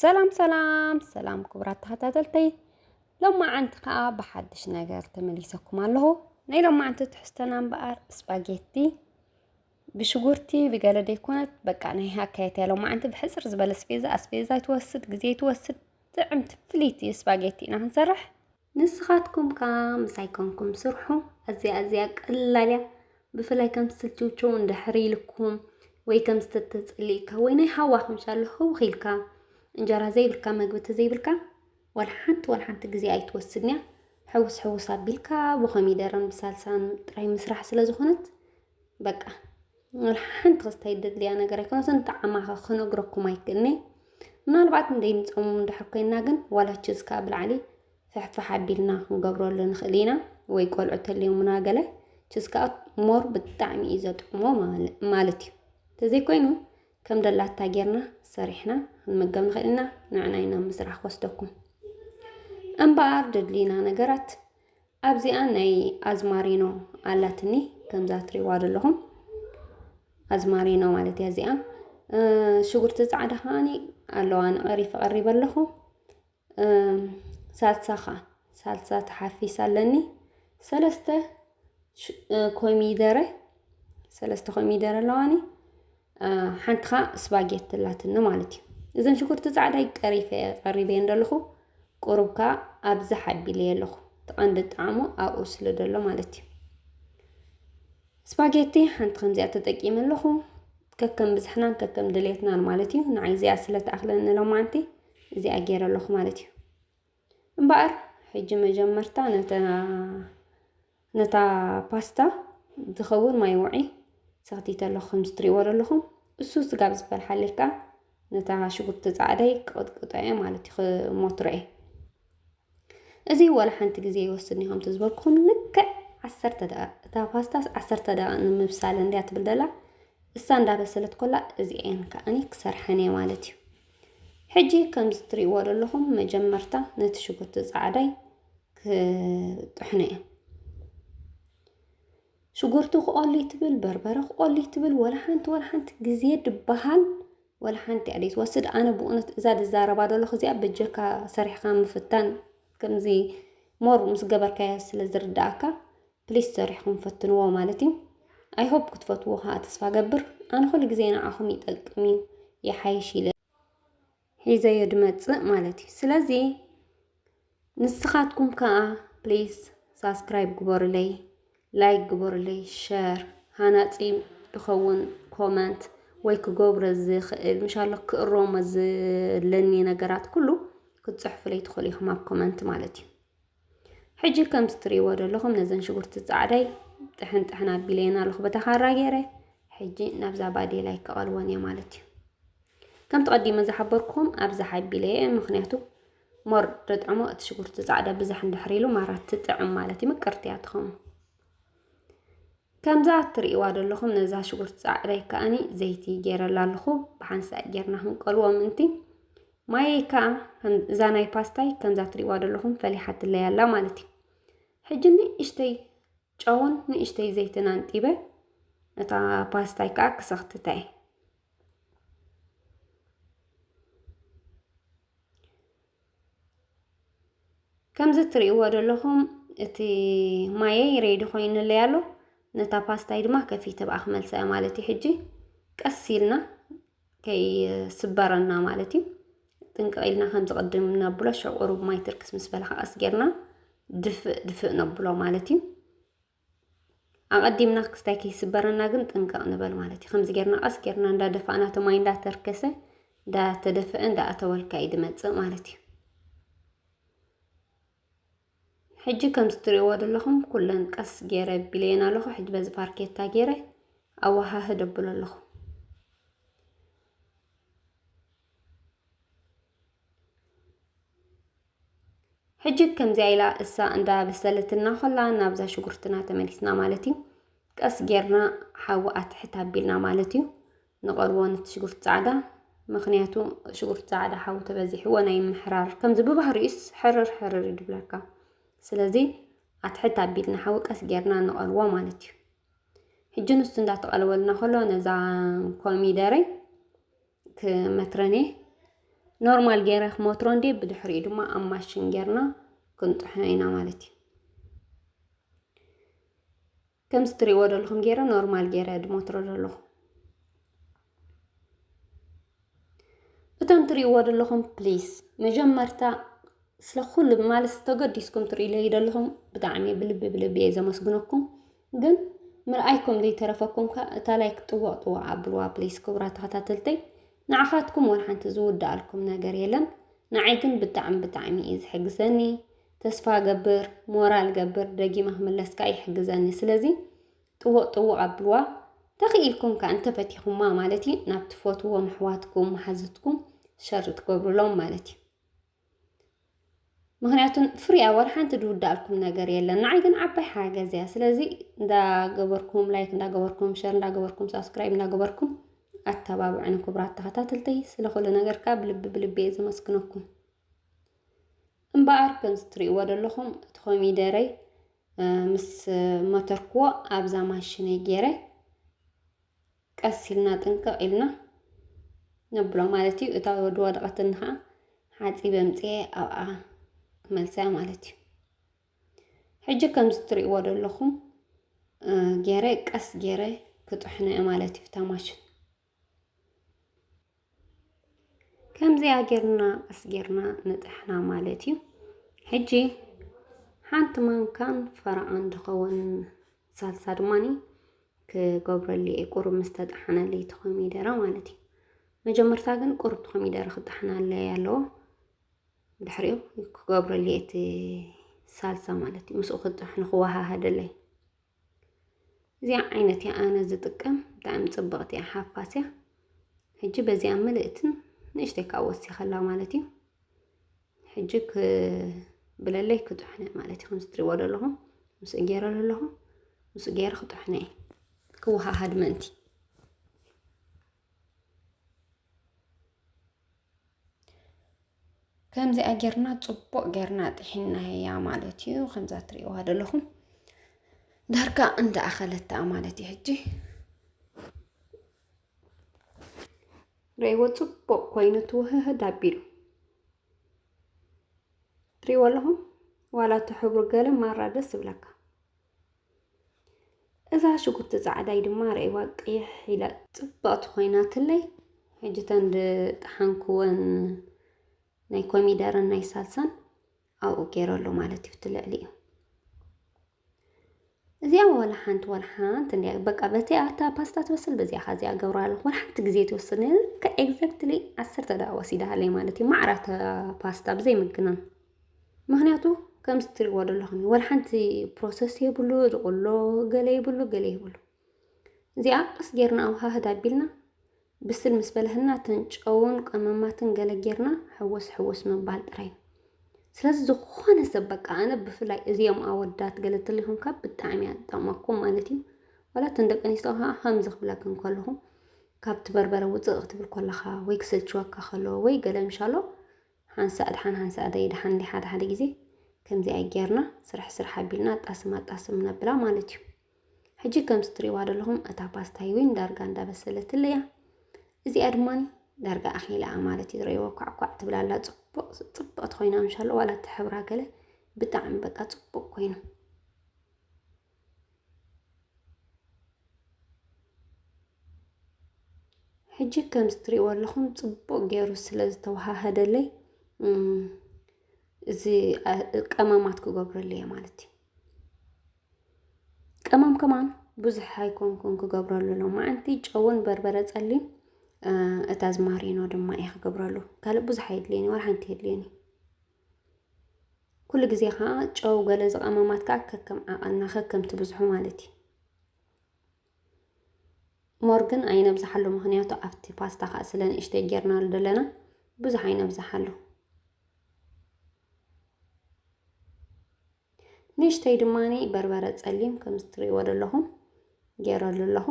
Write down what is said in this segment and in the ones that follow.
ሰላም ሰላም ሰላም ክቡራት ተኸታተልተይ ሎማዓንቲ ከዓ ብሓድሽ ነገር ተመሊሰኩም ኣለኹ ናይ ሎማዓንቲ ትሕዝቶና እምበኣር ስፓጌቲ ብሽጉርቲ ብገለ ደይኮነት በቃ ናይ ሃካየት ያለው ማዓንቲ ብሕፅር ዝበለ ስፔዛ ኣስፔዛ ትወስድ ግዜ ትወስድ ጥዕምቲ ፍልይቲ ስፓጌቲ ኢና ክንሰርሕ ንስኻትኩም ከኣ ምሳይ ኮንኩም ስርሑ። ኣዝያ ኣዝያ ቀላል እያ። ብፍላይ ከም ዝትችውችው እንድሕር ኢልኩም ወይ ከም ዝተተጸሊእካ ወይ ናይ ሃዋኹም ሻሎ ህውኽ ኢልካ እንጀራ ዘይብልካ መግቢ ተዘይብልካ ዋላ ሓንቲ ዋላ ሓንቲ ግዜ ኣይትወስድን እያ። ሕውስ ሕውስ ኣቢልካ ብኮሚደረን ብሳልሳን ጥራይ ምስራሕ ስለ ዝኾነት በቃ ሓንቲ ክስታይ ደድልያ ነገር ኣይኮነስ እንተ ዓማኸ ክነግረኩም ኣይክእልኒ ምናልባት እንደይምፀሙ እንድሕር ኮይና ግን ዋላች እስካ ብላዕሊ ፍሕፍሕ ኣቢልና ክንገብረሉ ንኽእል ኢና ወይ ቆልዑ ተልዮሙና ገለ ችስ ከዓ ሞር ብጣዕሚ እዩ ዘጥዕሞ ማለት እዩ ተዘይኮይኑ ከም ደላታ ጌርና ሰሪሕና ክንመገብ ንኽእል ኢና ንዕና ኢና ምስራሕ ክወስደኩም እምበኣር ደድልዩና ነገራት ኣብዚኣ ናይ ኣዝማሪኖ ኣላትኒ ከምዛ ትሪዋ ዘለኹም ኣዝማሪኖ ማለት እያ እዚኣ ሽጉርቲ ፃዕዳ ከዓኒ ኣለዋ ንቐሪፍ ቀሪበ ኣለኹ ሳልሳ ከዓ ሳልሳ ተሓፊስ ኣለኒ ሰለስተ ኮሚደረ ሰለስተ ኮሚደረ ኣለዋኒ ሓንቲ ከዓ ስፓጌቲ ኣላትኒ ማለት እዩ እዘን ሽጉርቲ ፃዕዳይ ቀሪፈ ቀሪበየን ዘለኹ ቁሩብ ከዓ ኣብዝሕ ኣቢለየ ኣለኹ እቲ ቀንዲ ጣዕሙ ኣብኡ ስለ ዘሎ ማለት እዩ ስፓጌቲ ሓንቲ ከምዚኣ ተጠቂመ ኣለኹ ከከም ብዝሕናን ከከም ድሌትናን ማለት እዩ ንዓይ እዚኣ ስለ ትኣኽለኒ ሎማዓንቲ እዚኣ ገይረ ኣለኹ ማለት እዩ እምበኣር ሕጂ መጀመርታ ነታ ፓስታ ዝኸውን ማይ ውዒ ሰኽቲተ ኣለኹ ከምዚ ትሪእዎ ዘለኹም እሱ ስጋ ኣብ ዝበልሓለይ ከዓ ነታ ሽጉርቲ ፃዕዳይ ክቕጥቅጦ እየ ማለት እዩ ክሞትሮ እየ እዚ ወላ ሓንቲ ግዜ ይወስድኒ ከምቲ ዝበልኩኹም ልክዕ ዓሰርተ ደቂቕ እታ ፓስታስ ዓሰርተ ደቂቕ ንምብሳል እንድያ ትብል ደላ እሳ እንዳበሰለት ኮላ እዚአን ከዓኒ ክሰርሐን እየ ማለት እዩ ሕጂ ከምዚ ትርእይዎ ዘለኹም መጀመርታ ነቲ ሽጉርቲ ጻዕዳይ ክጥሕኖ እየ ሽጉርቲ ክቆሊ ትብል በርበረ ክቆሊ ትብል ወላ ሓንቲ ወላ ሓንቲ ግዜ ድበሃል ወላ ሓንቲ እያ ዘይትወስድ ኣነ ብእውነት እዛ ዝዛረባ ዘለኹ እዚኣ በጀካ ሰሪሕካ ምፍታን ከምዚ ሞር ምስ ገበርካዮ ስለ ዝርዳእካ ፕሊስ ሰሪሕኩም ፈትንዎ ማለት እዩ ኣይ ሆፕ ክትፈትዎ ከዓ ተስፋ ገብር ኣነ ኩሉ ግዜ ንዓኹም ይጠቅም እዩ ይሓይሽ ኢለ ሒዘዮ ድመፅእ ማለት እዩ ስለዚ ንስኻትኩም ከዓ ፕሊስ ሳብስክራይብ ግበሩለይ ላይክ ግበሩለይ ሸር ሃናፂ ዝኸውን ኮመንት ወይ ክገብሮ ዝኽእል ምሻሎ ክእረሞ ዘለኒ ነገራት ኩሉ ክትፅሕፉለይ ትኽእሉ ኢኹም ኣብ ኮመንት ማለት እዩ ሕጂ ከምቲ ትርእይዎ ዘለኹም ነዘን ሽጉርቲ ጻዕዳይ ጥሕን ጥሕን ኣቢለየን ኣለኹ በታ ካራ ገይረ ሕጂ ናብዛ ባዴላይ ክቐልወን እየ ማለት እዩ ከምቲ ቀዲመ ዝሓበርኩም ኣብዛ ሓቢለ እየ ምክንያቱ ሞር ደጥዕሞ እቲ ሽጉርቲ ጻዕዳ ብዛሕ እንድሕር ኢሉ ማራ ትጥዕም ማለት እዩ ምቅርቲ እያ ትኸውን ከምዛ እትርእይዋ ዘለኹም ነዛ ሽጉርቲ ጻዕዳይ ከኣኒ ዘይቲ ጌረላ ኣለኹ ብሓንሳእ ጌርና ክንቀልዎ ምንቲ ማየይ ከኣ እዛ ናይ ፓስታይ ከምዛ ትሪእዋ ዘለኹም ፈሊሓትለይ ኣላ ማለት እዩ ሕጂ ንእሽተይ ጨውን ንእሽተይ ዘይትን ኣንጢበ እታ ፓስታይ ከኣ ክሰኽትታ እየ ከምዚ እትርእይዎ ዘለኹም እቲ ማየይ ሬዲ ኮይኑለይ ኣሎ ነታ ፓስታይ ድማ ከፊተ ብኣ ክመልሳ እየ ማለት እዩ ሕጂ ቀስ ኢልና ከይስበረና ማለት እዩ ጥንቅቕ ኢልና ከምዚ ቅድም ነብሎ ሽዑ ቁሩብ ማይ ትርክስ ምስ በለ ክቐስ ጌርና ድፍእ ድፍእ ነብሎ ማለት እዩ ኣቐዲምና ክስታይ ከይስበረና ግን ጥንቀቕ ንበል ማለት እዩ። ከምዚ ጌርና ቀስ ጌርና እንዳደፋእና እቲ ማይ እንዳተርከሰ እንዳተደፈአ እንዳኣተወልካ እዩ ድመፅእ ማለት እዩ። ሕጂ ከምዚ ትሪእዎ ዘለኹም ኩለን ቀስ ጌረ ቢለየን ኣለኹ። ሕጂ በዚ ፋርኬታ ጌረ ኣወሃህድ ኣብሎ ኣለኹ። ሕጂ ከምዚኣ ኢላ እሳ እንዳ በሰለትና ኮላ ናብዛ ሽጉርትና ተመሊስና ማለት እዩ። ቀስ ጌርና ሓዊ ኣትሕት ኣቢልና ማለት እዩ ንቐልዎ ነቲ ሽጉርቲ ጻዕዳ ምክንያቱ ሽጉርቲ ጻዕዳ ሓዊ ተበዚሕዎ ናይ ምሕራር ከምዚ ብባህሪኡስ ሕርር ሕርር እዩ ድብለካ ስለዚ ኣትሕት ኣቢልና ሓዊ ቀስ ጌርና ንቐልዎ ማለት እዩ ሕጂ ንሱ እንዳተቐለወልና ከሎ ነዛ ኮሚደረይ ክመትረኔ ኖርማል ገይረ ክመትሮ እንዴ ብድሕሪኡ ድማ ኣብ ማሽን ጌርና ክንጥሕኖ ኢና ማለት እዩ ከምዚ ትሪእዎ ዘለኹም ገይረ ኖርማል ገይረ ድመትሮ ዘለኹ እቶም ትሪእዎ ዘለኹም ፕሊስ መጀመርታ ስለ ኩሉ ማለት ተገዲስኩም ትርእይለይ ዘለኹም ብጣዕሚ ብልቢ ብልቢ እየ ዘመስግነኩም ግን ምርኣይ ከም ዘይተረፈኩም ከኣ እታ ላይክ ጥዋቅ ጥዋቅ ኣብልዋ ፕሊስ ክቡራት ተከታተልተይ ንዓካትኩም ወላ ሓንቲ ዝውዳኣልኩም ነገር የለን ንዓይ ግን ብጣዕሚ ብጣዕሚ እዩ ዝሕግዘኒ ተስፋ ገብር ሞራል ገብር ደጊመ ክምለስ ከኣ ይሕግዘኒ ስለዚ ጥውቅ ጥውቅ ኣብልዋ ተኽኢልኩም ከኣ እንተፈቲኹማ ማለት እዩ ናብ ትፈትዎም ኣሕዋትኩም መሓዙትኩም ሸር ትገብሩሎም ማለት እዩ ምክንያቱ ፍሪ ኣወር ሓንቲ ድውዳልኩም ነገር የለን። ንዓይ ግን ዓባይ ሓገዝ እያ። ስለዚ እንዳገበርኩም ላይክ እንዳገበርኩም ሸር እንዳገበርኩም ሳብስክራይብ እንዳገበርኩም ኣተባብዕኒ ክቡራት ተኸታተልተይ። ስለ ኩሉ ነገር ካብ ልቢ ብልቢ እየ ዘመስግነኩም። እምበኣር ከምዚ ትርእይዎ ዘለኹም እቲ ኮሚደረይ ምስ መተርክዎ ኣብዛ ማሽነይ ገይረ ቀስ ኢልና ጥንቅቕ ኢልና ነብሎ ማለት እዩ እታ ወዲ ወረቐትን ከዓ ሓፂበ ምፅኤ ኣብኣ ክመልሰያ ማለት እዩ ሕጂ ከምዚ እትሪእዎ ዘለኹም ገይረ ቀስ ገይረ ክጥሕነ ማለት እዩ ብታ ማሽን ከምዚኣ ጌርና ቀስ ጌርና ንጥሕና ማለት እዩ። ሕጂ ሓንቲ ማንካን ፈረቓን ድኸውን ሳልሳ ድማኒ ክገብረሉ እየ ቁሩብ ምስ ተጠሓነለይ እቲ ኮሚደረ ማለት እዩ። መጀመርታ ግን ቁሩብ እቲ ኮሚደረ ክጠሓናለይ ኣለዎ። ድሕሪኡ ክገብረሉ እየ እቲ ሳልሳ ማለት እዩ። ምስኡ ክጥሕኑ ክወሃሃደለይ እዚኣ ዓይነት እያ ኣነ ዝጥቀም ብጣዕሚ ፅብቕቲ እያ ሓፋስ እያ ሕጂ በዚኣ ምልእትን ንእሽተይ ካብ ወሲኸላ ማለት እዩ ሕጂ ክብለለይ ክጥሕነ ማለት እዩ ከምዚ ትሪእዎ ዘለኹም ምስ ገይረ ኣለኹ ምስ ገይረ ክጥሕነ እዩ ክወሃሃድ ምእንቲ ከምዚኣ ጌርና ፅቡቕ ጌርና ጥሒናያ ማለት እዩ ከምዛ ትሪእዋ ዘለኹም ዳርጋ እንዳኣኸለታ ማለት እዩ ሕጂ ርእይዎ ፅቡቕ ኮይኑ ትውህህድ ኣቢሉ ትሪእዎ ኣለኹም ዋላ እቲ ሕብሩ ገለ ማራ ደስ ይብለካ እዛ ሽጉርቲ ፃዕዳይ ድማ ርእዋ ቅይሕ ኢላ ፅብቕቲ ኮይናትለይ ሕጂ ተን ዝጠሓንክወን ናይ ኮሚደረን ናይ ሳልሳን ኣብኡ ገይረሉ ማለት እዩ እቲ ልዕሊ እዩ እዚኣ ዋላ ሓንቲ ዋላ ሓንቲ እንዲያ በቃ በቲ ኣብታ ፓስታ ትበስል በዚኣ ካ እዚኣ ገብራ ኣለኹ ዋላ ሓንቲ ግዜ ትወስድ ከ ኤግዛክትሊ ዓሰርተ ደቂቃ ወሲዳሃለይ ማለት እዩ ማዕራታ ፓስታ ብዘይ ምግናን ምክንያቱ ከምዚ ትሪእዎ ዘለኹም ወላ ሓንቲ ፕሮሰስ የብሉ ዝቕሎ ገለ የብሉ ገለ የብሉ እዚኣ ቀስ ጌርና ኣውሃህድ ኣቢልና ብስል ምስ በለህና እተን ጨውን ቀመማትን ገለ ጌርና ሕወስ ሕወስ ምባል ጥራይ ስለዚ ዝኾነ ሰብ በቃ ኣነ ብፍላይ እዚኦም ኣወዳት ገለ ትልኹም ካብ ብጣዕሚ እያ ትጠቕመኩም ማለት እዩ ዋላ እተን ደቂ ኣንስትዮ ከዓ ከምዚ ክብለክን ከለኹ ካብቲ በርበረ ውፅእ ክትብል ከለኻ ወይ ክሰልችወካ ከሎ ወይ ገለ ምሻሎ ሓንሳእ ድሓን ሓንሳእ ደይድሓን ድዩ ሓደ ሓደ ግዜ ከምዚ ኣይ ጌርና ስራሕ ስራሕ ኣቢልና ኣጣስም ኣጣስም ነብላ ማለት እዩ ሕጂ ከምዚ ትሪእዋ ዘለኹም እታ ፓስታይ ዊን ዳርጋ እንዳበሰለትለይ እያ እዚኣ ድማ ዳርጋ ኣኺላ እያ ማለት እዩ ረእይዎ ኳዕኳዕ ትብላ ኣላ ጽቡቕ ጽብቕቲ ኮይና ምሻሎ ዋላ እቲ ሕብራ ገለ ብጣዕሚ በቃ ጽቡቕ ኮይኑ ሕጂ ከምዚ ትሪእዎ ኣለኹም ፅቡቕ ገይሩ ስለ ዝተዋሃሃደለይ እዚ ቀመማት ክገብረሉ እየ ማለት እዩ ቀመም ከማን ብዙሕ ኣይኮንኩን ክገብረሉ ሎም መዓንቲ ጨውን በርበረ ፀሊም እታ ዝማሪኖ ድማ እየ ክገብረሉ ካልእ ብዙሕ ኣይድልየኒ ዋላ ሓንቲ የድልየኒ ኩሉ ግዜ ከዓ ጨው ገለ ዝቐመማት ከዓ ከከም ዓቐንና ከከም ትብዝሑ ማለት እዩ ሞር ግን ኣይነብዝሓሉ ምክንያቱ ኣብቲ ፓስታ ከዓ ስለ ንእሽተይ ጌርናሉ ዘለና ብዙሕ ኣይነብዝሓሉ ንእሽተይ ድማኒ በርበረ ፀሊም ከም እትሪእዎ ዘለኹም ጌረሉ ኣለኹ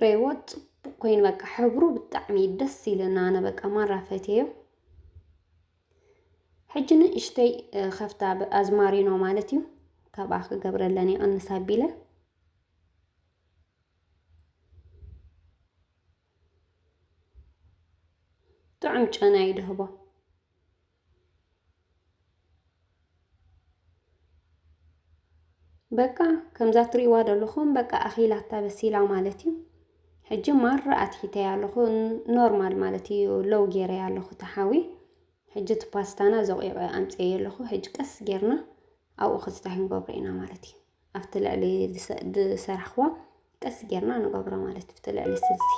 ሬዎ ፅቡቅ ኮይኑ በቃ ሕብሩ ብጣዕሚ ደስ ኢልና ኣነ በቃ ማራ ፈትዮ ሕጂ ንእሽተይ ከፍታ ኣዝማሪኖ ማለት እዩ ካብኣ ክገብረለን ይቐንስ ኣቢለ ጥዑም ጨና ይድህቦ በቃ ከምዛ ትሪእዋ ዘለኹም በቃ ኣኺላታ በሲላ ማለት እዩ ሕጂ ማር ኣትሒተያ ኣለኹ ኖርማል ማለት እዩ ሎው ጌረያ ኣለኹ ተሓዊ ሕጂ እቲ ፓስታና ዘቑዒቐ ኣምፀየ ኣለኹ ሕጂ ቀስ ጌርና ኣብኡ ክስታይ ክንገብሮ ኢና ማለት እዩ ኣብቲ ልዕሊ ዝሰራሕኽዋ ቀስ ጌርና ንገብሮ ማለት እዩ ኣብቲ ልዕሊ ስልሲ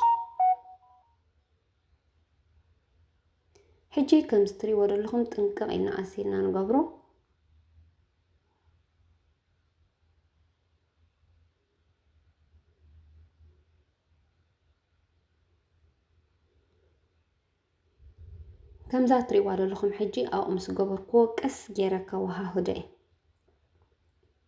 ሕጂ ከምዚ ትሪእዎ ዘለኹም ጥንቅቕ ኢልና ቀስ ኢልና ንገብሮ ከምዛ ትሪእዋ ዘለኹም ሕጂ ኣብኡ ምስ ገበርኩዎ ቀስ ገይረ ከወሃህዶ እየ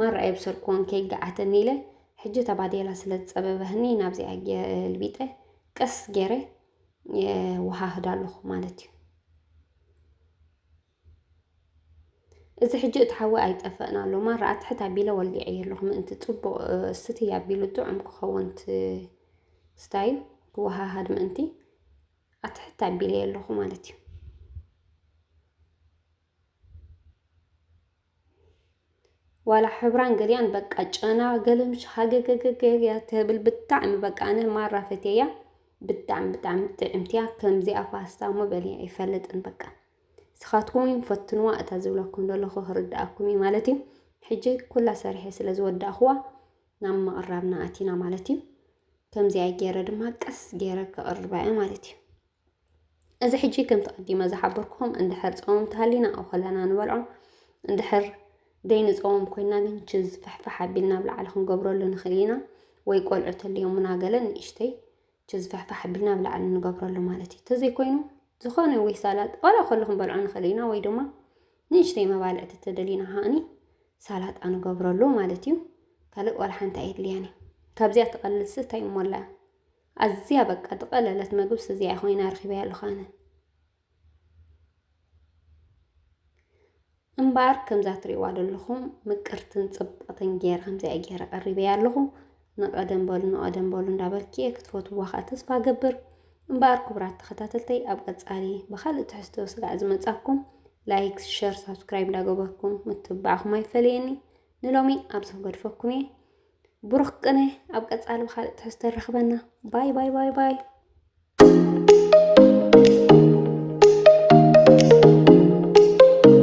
ማራ የብሰርክዎን ከይገዓተኒ ኢለ ሕጂ ተባዴላ ስለ ዝጸበበህኒ ናብዚኣ ገልቢጠ ቀስ ገይረ የወሃህዳ ኣለኹ ማለት እዩ እዚ ሕጂ እቲ ሓዊ ኣይጠፈእን ኣሎ ማራ ኣትሕት ኣቢለ ወሊዐየ ኣለኹ ምእንቲ ፅቡቕ ስቲ ኣቢሉ ጥዑም ክኸውን ስታዩ ክወሃሃድ ምእንቲ ኣትሕት ኣቢለየ ኣለኹ ማለት እዩ ዋላ ሕብራን ገሊኣን በቃ ጨና ገልምሽ ሃገገገገ እያ ትብል ብጣዕሚ በቃ ኣነ ማራ ፈትየያ ብጣዕሚ ብጣዕሚ ጥዕምቲ እያ ከምዚኣ ፓስታ እሞ በልየ ኣይፈልጥን በቃ ንስኻትኩም እውን ፈትንዋ እታ ዝብለኩም ዘለኹ ክርድኣኩም እዩ ማለት እዩ ሕጂ ኩላ ሰሪሐ ስለ ዝወዳእኽዋ ናብ ምቕራብና ኣቲና ማለት እዩ ከምዚኣ ገይረ ድማ ቀስ ገይረ ከቕርባ እየ ማለት እዩ እዚ ሕጂ ከምቲ ቀዲመ ዝሓበርኩኹም እንድሕር ጸወም ተሃሊና ኣብ ከለና ንበልዖ እንድሕር ደይንጸወም ኮይና ግን ችዝ ፍሕፍሕ ኣቢልና ኣብ ላዕሊ ክንገብረሉ ንኽእል ኢና ወይ ቆልዑ ተልዮሙና ገለ ንእሽተይ ችዝ ፍሕፍሕ ኣቢልና ኣብ ላዕሊ ንገብረሉ ማለት እዩ ተዘይኮይኑ ዝኾነ ወይ ሳላጥ ዋላ ከሉ ክንበልዖ ንኽእል ኢና ወይ ድማ ንእሽተይ መባልዕቲ ተደሊና ሃእኒ ሳላጣ ንገብረሉ ማለት እዩ ካልእ ዋላ ሓንቲ ኣየድልያን እዩ ካብዚኣ ትቐልልሲ እንታይ እሞላ ኣዝያ በቃ ዝቐለለት መግብስ እዚኣ ኮይና ረኺበያ ኣለኹ ኣነ። እምበኣር ከምዛ ትሪእዋ ዘለኹም ምቅርትን ጽብቕትን ጌረ ከምዚኣ ጌረ ቀሪበያ ኣለኹ። ንቐደም በሉ ንቐደም በሉ እንዳበልኪ እየ ክትፈትዋ ከዓ ተስፋ ገብር። እምበኣር ክቡራት ተኸታተልተይ ኣብ ቀጻሊ ብካልእ ትሕዝቶ ስጋዕ ዝመጻኩም ላይክ፣ ሸር፣ ሳብስክራይብ እንዳገበርኩም ምትብባዕኹም ኣይፈለየኒ። ንሎሚ ኣብዚ ክገድፈኩም እየ። ብሩኽ ቅነ ኣብ ቀፃሊ ብካልእ ትሕዝቶ ንረኽበና ባይ ባይ ባይ ባይ